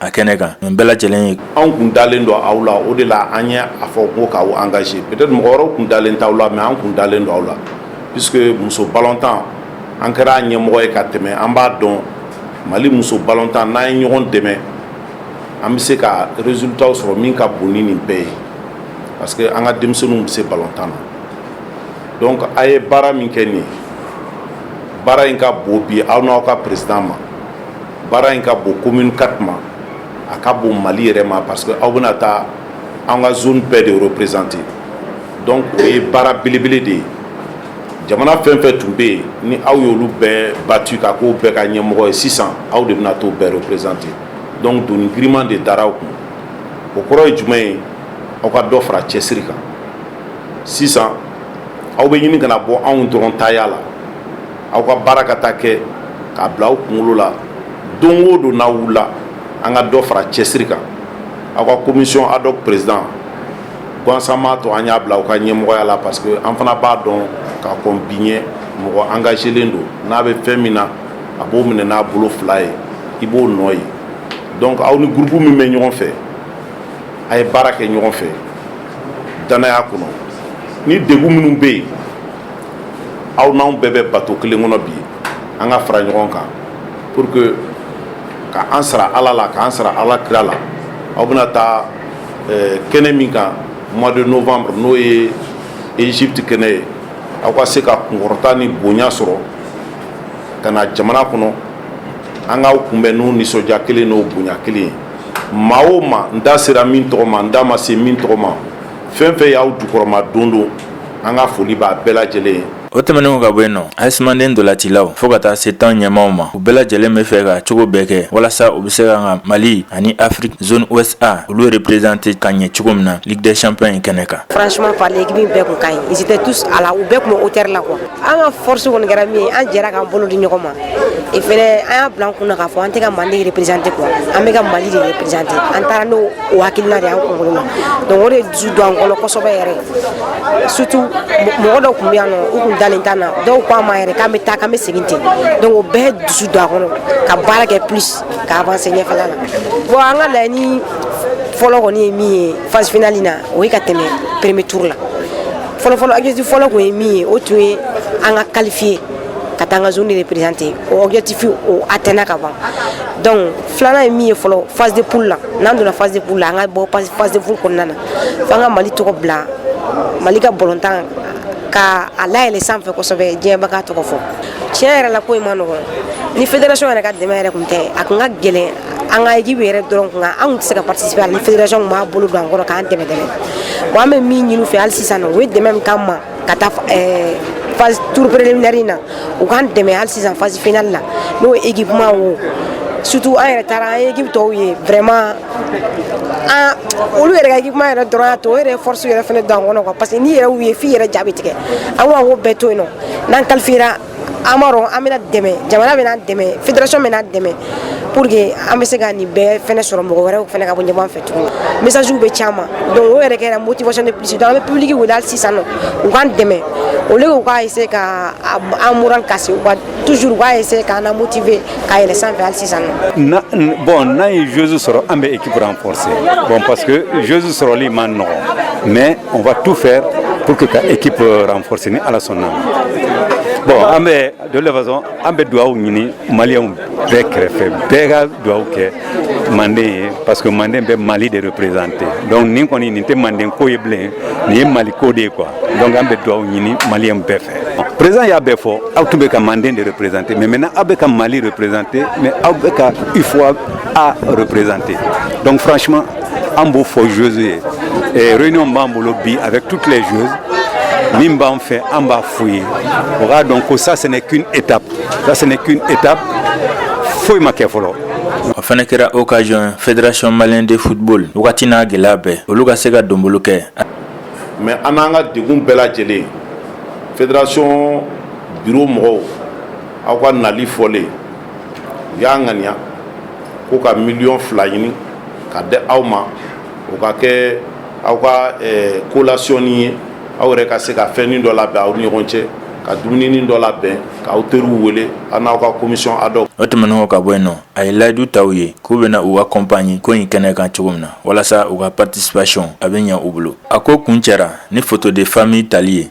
a kɛnɛ kan nin bɛɛ lajɛlen ye anw kun dalen don aw la o de la an ye a fɔ ko k'aw engager peut-être mɔgɔ wɛrɛw kun dalen t'aw la mais an kun dalen don aw la puisque muso balotan an kɛra an ɲɛmɔgɔ ye ka tɛmɛ an b'a dɔn mali muso balotan n'an ye ɲɔgɔn dɛmɛ an bɛ se ka résultat sɔrɔ min ka bon ni nin bɛɛ ye parce que an ka denmisɛnw bɛ se balotan na donc a ye baara min kɛ nin ye baara in ka bon bi aw n'aw ka président ma baara in ka bon commune IV ma a ka bon Mali yɛrɛ ma parce que aw bɛna taa an ka zone bɛɛ de representer donc o ye baara belebele de ye jamana fɛn fɛn tun bɛ yen ni aw y'olu bɛɛ battu ka k'o bɛɛ ka ɲɛmɔgɔ ye sisan aw de bɛna t'o bɛɛ representer donc doni giriman de dara aw kun o kɔrɔ ye jumɛn ye aw ka dɔ fara cɛsiri kan sisan aw bɛ ɲini ka na bɔ anw dɔrɔn taya la. aw ka baara kɛta kɛ k'a bila aw kunkolo la don o don n'aw wulila an ka dɔ fara cɛsiri kan aw ka commission ad hoc président gansan m'a to an y'a bila aw ka ɲɛmɔgɔya la parce que an fana b'a dɔn ka kɔn bi ɲɛ mɔgɔ engagélen don n'a bɛ fɛn min na a b'o minɛ n'a bolo fila ye i b'o nɔ ye donc aw ni groupe min bɛ ɲɔgɔn fɛ a ye baara kɛ ɲɔgɔn fɛ dannaya kɔnɔ ni degun minnu bɛ yen aw n'anw bɛɛ bɛ bato kelen kɔnɔ bi an ka fara ɲɔgɔn kan pour que ka an sara ala la k'an sara ala kira la aw bɛna taa eh, kɛnɛ min kan mois de novembre n'o ye egypte kɛnɛ ye aw ka se ka kunkɔrɔta ni bonya sɔrɔ ka na jamana kɔnɔ an k'aw kunbɛn n'o nisɔndiya kelen n'o bonya kelen ye maa o maa n da sera min tɔgɔ ma n da ma se min tɔgɔ ma fɛn fɛn y'aw jukɔrɔmadondon an ka foli b'a bɛɛ lajɛlen ye o tɛmɛnen ka bɔ yen nɔ AS Mandé ntolatilaw fɔɔ ka taa se tɔn ɲɛmaaw ma u bɛɛ lajɛlen bɛ fɛ ka cogo bɛɛ kɛ walasa u bɛ se ka ka mali ani afrique zone ouest A olu représenter ka ɲɛ cogo min na ligue des champions in kɛnɛ kan franchement parler équipe in bɛɛ tun ka ɲi ils étaient tous à la u bɛɛ tun bɛ hauteur la quoi an ka force kɔni kɛra min ye an jɛra k'an bolo di ɲɔgɔn ma et fɛnɛ an y'a bila an kun na k'a fɔ an tɛ ka mali représenter quoi an bɛ ka mali de représenter an taara n'o o hakilina de ye an kunkolo la donc o de dusu don an kɔnɔ kosɛbɛ yɛrɛ surtout mɔgɔ dɔw tun bɛ yan nɔ u tun dalen t'an na dɔw ko an ma yɛrɛ k'an bɛ taa k'an bɛ segin ten donc o bɛɛ dusu don a kɔnɔ ka baara kɛ plus ka avancer ɲɛfɛla la bon an ka laɲini fɔlɔ kɔni ye min ye phase finale na o ye ka tɛmɛ premier tour la fɔlɔfɔlɔ objectif fɔlɔ kun ye min ye o tun ye an ka qualifier ka taa an ka zone de représenter o objectif o atteindre ka ban donc filanan ye min ye fɔlɔ phase de poule la n'an donna phase de poule la an ka bɔ phase de poule kɔnɔna na f'an ka Mali tɔgɔ bila Mali ka balɔntan ka a layɛlɛ sanfɛ kosɛbɛ diɲɛ bɛɛ k'a tɔgɔ fɔ tiɲɛ yɛrɛ la ko in man nɔgɔn ni fédération yɛrɛ ka dɛmɛ yɛrɛ tun tɛ a tun ka gɛlɛn an ka équipe yɛrɛ dɔrɔn kun, an kun tɛ se ka participer a la ni fédération tun m'a bolo don an kɔrɔ k'an dɛmɛ dɛmɛ, bon an bɛ min ɲini u fɛ hali sisan u ye dɛmɛ min k'an ma ka taa ɛɛ phase tour préliminaire in na u k'an dɛmɛ hali sisan phase finale la n'o ye équipement ye o surtout an yɛrɛ taara an ye équipe tɔw ye vraiment an olu yɛrɛ ka équipement yɛrɛ dɔrɔn y'a to o yɛrɛ ye force yɛrɛ fana don an kɔnɔ quoi parce que n'i yɛrɛ y'u ye f'i yɛrɛ ja bɛ tigɛ, an ko an k'o bɛɛ to yen nɔ n'an qualifiera an b'a dɔn an bɛna dɛmɛ jamana bɛna dɛmɛ fédération bɛna dɛmɛ pour que an bɛ se ka nin bɛɛ fɛnɛ sɔrɔ mɔgɔ wɛrɛw fɛnɛ ka bɔ ɲɔgɔn fɛ tuguni message bɛ caman donc o yɛrɛ kɛra motivation de plus donc an bɛ public wele hali sisan nɔ u k'an dɛmɛ au lieu u k'a essayer ka an moral casser u ka toujours u k'a essayer k'an na motiver ka yɛlɛ sanfɛ hali sisan nɔ. bon n'an ye joueuse sɔrɔ an bɛ équipe renforcer bon parce que joueuse sɔrɔli man nɔgɔn mais on va tout faire pour que ka équipe euh, renforcer ni ala sɔnna bon an bɛ de toute façon an bɛ dugawu ɲini maliyɛnw bɛɛ kɛrɛfɛ bɛɛ ka dugawu kɛ manden ye parce que manden bɛ mali de représenter donc nin kɔni nin tɛ manden ko ye bilen nin ye mali ko de ye quoi donc an bɛ dugawu ɲini maliyɛnw bɛɛ fɛ président y'a bɛɛ fɔ aw tun bɛ ka manden de représenter mais maintenant aw bɛ ka mali représenter mais aw bɛ ka UFOA A représenter donc franchement an b'o fɔ joueuses ye eh, réunion b'an bolo bi avec toutes les joueuses min b'an fɛ an b'a f'u ye u k'a dɔn ko ça ce n'est qu'une étape ça ce n'est qu'une étape foyi ma kɛ fɔlɔ o fana kɛra occasion fédération malienne de football wagati n'a gɛlɛya bɛɛ olu ka se ka donbolo kɛ mais an n'an ka degun bɛɛ lajɛlen fédération bureau mɔgɔw aw ka nali fɔlen u y'a ŋaniya ko ka miliyɔn fila ɲini ka di aw ma o ka kɛ aw ka eh, collationnin ye aw yɛrɛ ka se ka fɛnnin dɔ labɛn aw ni ɲɔgɔn cɛ ka dumuninin dɔ labɛn k'aw teriw wele a n'aw ka commission ad hoc o tɛmɛnen kɔ ka bɔ yen nɔ a ye layidu ta u ye k'u bɛna u accompagner ko in kɛnɛ kan cogo min na walasa u ka participation a bɛ ɲɛ u bolo a ko kuncɛra ni photo de famille tali ye